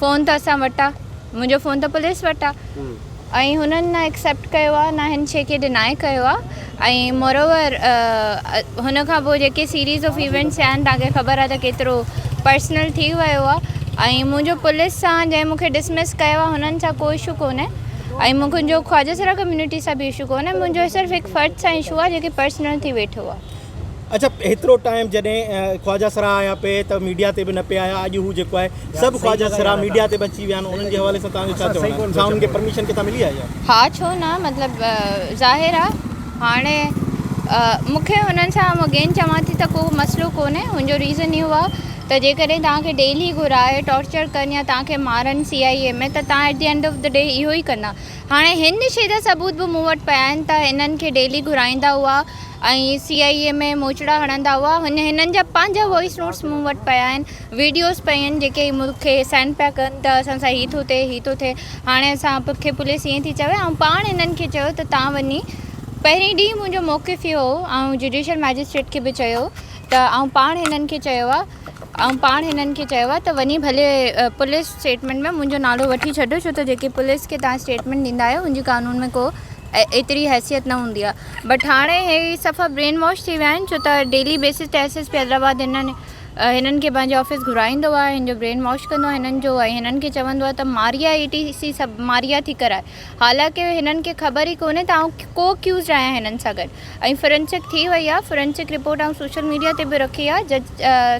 Phone ته اسان وٽ آ. منهنجو فون ته پوليس وٽ آ ۽ هنن نه ايڪسيپٽ ڪيو آ نه هن شي کي ڊينائي ڪيو آ ۽ موراوور هن کان پوء جيڪي سيريز آف ايونٽس ٿيا آهن تهان کي خبر آ ته ڪيترو پرسنل ٿي ويو آ ۽ منهنجو پوليس سان جنهن مون کي ڊسمس ڪيو آ هنن سان ڪو اشو ڪونهي ۽ مون کي جو خواجه سرا ڪميونٽي سان به اشو ڪونهي منهنجو صرف هڪ فرد سان اشو آ جيڪي پرسنل ٿي ويٺو آ. اڇا هيترو ٽائيم جڏهن خواجه سرا آيا پي ته ميڊيا تي به نه پي آيا اڄ هو جيڪو آهي سڀ خواجه سرا ميڊيا تي به اچي ويا آهن انهن جي حوالي سان توهان جو ڇا چوڻ آهي ڇا انهن کي پرميشن ڪٿان ملي آهي ها ڇو نه مطلب ظاهر آهي هاڻي مون کي هنن سان اگين چوان ٿي ته ڪو مسئلو ڪونهي هن جو ريزن اهو آهي ته جيڪڏهن توهان کي ڊيلي گهرائي ٽارچر ڪن يا توهان کي مارن سي آئي اي ۾ ته توهان at the end of the day اهو ئي ڪندا هاڻي هن شي جا ثبوت به مون وٽ پيا آهن ته هنن کي ڊيلي گهرائيندا هئا ۽ سي آئي اي ۾ موچڙا هڻندا هئا هن هنن جا پنهنجا وائس نوٽس مون وٽ پيا آهن ويڊيوز پيا آهن جيڪي مون کي سينڊ پيا ڪن ته اسان سان هي ٿو ٿئي هي ٿو ٿئي هاڻي اسان کي پوليس ائين ٿي چوي آئون پاڻ هنن کي چيو ته تان وڃي پهرين ڏينهن منهنجو موقف اهو هو آئون جوڊيشل مئجسٽريٽ کي به چيو ته آئون پاڻ هنن کي چيو آهي آئون پاڻ هنن کي چيو آهي ته وڃي ڀلي پوليس اسٽيٽمينٽ ۾ منهنجو نالو وٺي ڇڏيو ڇو ته جيڪي پوليس کي تان اسٽيٽمينٽ ڏيندا آهيو ان جي قانون ۾ ڪو ايتري حيثيت نه هوندي آهي بٽ هاڻي هي صفا برين واش ٿي ويا آهن ڇو ته ڊيلي بيسز تي ايس ايس پي حيدرآباد هنن هنن کي پنهنجي آفيس گهرائيندو آهي هن جو برين واش ڪندو آهي هنن جو ۽ هنن کي چوندو آهي ته ماريا اي ٽي سي سڀ ماريا ٿي ڪرائي حالانڪه هنن کي خبر ئي ڪونهي ته آئون ڪو اڪيوزڊ آهيان هنن سان گڏ ۽ فرنسڪ ٿي وئي آهي فرنسڪ رپورٽ آئون سوشل ميڊيا تي به رکي آهي جج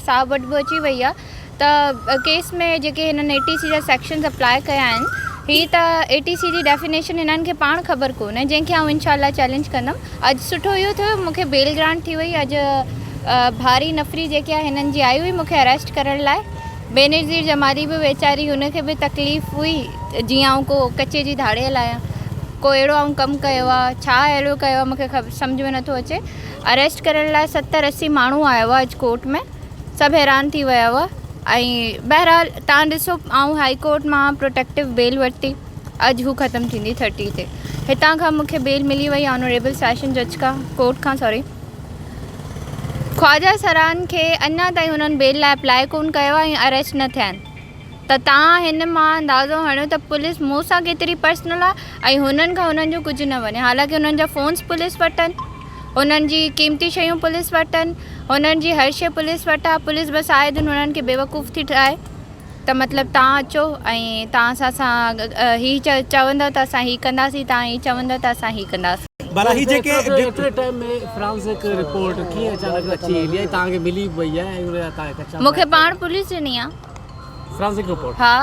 صاحب وٽ به اچي وئي آهي ته ڪيس ۾ جيڪي هنن اي ٽي سي جا سيڪشنز اپلاء ڪيا آهن هي ته اي ٽي سي جي ڊيفينيشن هنن کي پاڻ خبر ڪونهي جنهن کي آئون انشاء الله چئلينج ڪندم اڄ سٺو اهو ٿيو مون کي بيل گرانٽ ٿي وئي اڄ ڀاري نفري جيڪي آهي هنن جي آئي هئي مون کي اريسٽ ڪرڻ لاء بينظير جمالي به ويچاري هن کي به تڪليف هئي جيئن آئون ڪو ڪچي جي ڌاڙيل آهيان ڪو اهڙو آئون ڪم ڪيو آهي ڇا اهڙو ڪيو آهي مون کي سمجھ ۾ نٿو اچي اريسٽ ڪرڻ لاء ستر اسي ماڻهو آيو آهي اڄ ڪورٽ ۾ سڀ حيران ٿي ويا هئا ۽ بهرحال تان ڏسو آئون هائي ڪورٽ مان پروٽيڪٽو بيل ورتي اڄ هو ختم ٿيندي ٿرٽي تي هتان کان مون کي بيل ملي وئي آنوريبل سيشن جج کان ڪورٽ کان سوري خواجا سران کي اڃا تائين انهن بيل لاء اپلاء ڪون ڪيو آهي ۽ اريسٽ نه ٿيا آهن ته توهان هن مان اندازو هڻيو ته پوليس مون سان ڪيتري پرسنل آهي ۽ هنن کان انهن جو ڪجهه نه وڃي حالانڪه انهن جا فونس پوليس وٽ آهن انهن جي قيمتي شيون پوليس وٽ آهن هنن جي هر شي پوليس وٽ آهي پوليس بس آئي دن هنن کي بيوقوف ٿي ٺاهي ته مطلب توهان اچو ۽ توهان اسان سان هي چوندو ته اسان هي ڪنداسين توهان هي چوندو ته اسان هي ڪنداسين. ڀلا هي جيڪي ڊڪٽريٽ ٽائيم ۾ فرانزڪ رپورٽ ڪيئن اچانڪ اچي ايندي آهي توهان کي ملي به وئي آهي ۽ ان لاء توهان کي ڪچا مون کي پاڻ پوليس ڏني آهي. فرانسڪ رپورٽ ها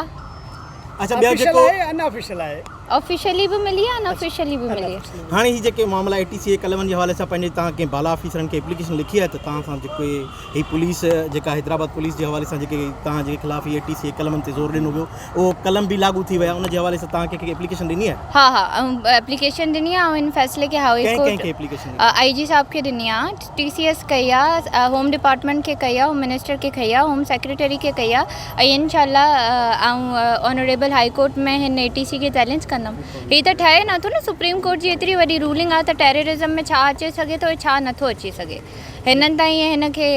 اچا ٻيو جيڪو آفيشل آهي ان آفيشل آهي آفيشلي به ملي آهي ان آفيشلي به ملي آهي هاڻي هي جيڪي معاملا اي ٽي سي اي قلمن جي حوالي سان پنهنجي تان ڪنهن بالا آفيسرن کي اپليڪيشن لکي آهي ته تان سان جيڪو هي پوليس جيڪا حيدرآباد پوليس جي حوالي سان جيڪي تان جي خلاف اي ٽي سي اي قلمن تي زور ڏنو ويو اهو قلم به لاڳو ٿي ويا ان جي حوالي سان تان کي ڪي اپليڪيشن ڏني آهي ها ها اپليڪيشن ڏني آهي ان فيصلي کي هاء ڪورٽ اي جي صاحب کي ڏني آهي ٽي سي ايس ڪئي آ هوم ڊپارٽمينٽ کي ڪئي آ هوم منسٽر کي ڪئي آ هوم سيڪريٽري کي ڪئي آ ۽ انشاء الله آئون آنريبل هائي ڪورٽ ۾ هن اي ٽي سي کي چئلينج ڪندم هي ته ٺهي نٿو نه سپريم ڪورٽ جي ايتري وڏي رولنگ آ ته ٽيررزم ۾ ڇا اچي سگهي ٿو ۽ ڇا نٿو اچي سگهي هنن ته ائين هن کي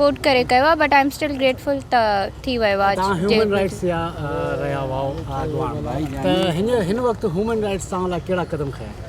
ڪوٽ ڪري ڪيو آ but I am still grateful ته ٿي ويو آ توهان هيومن رائٽس جا رهيا هئا اڳواڻ ته هن وقت هيومن رائٽس توهان لاء ڪهڙا قدم کنيا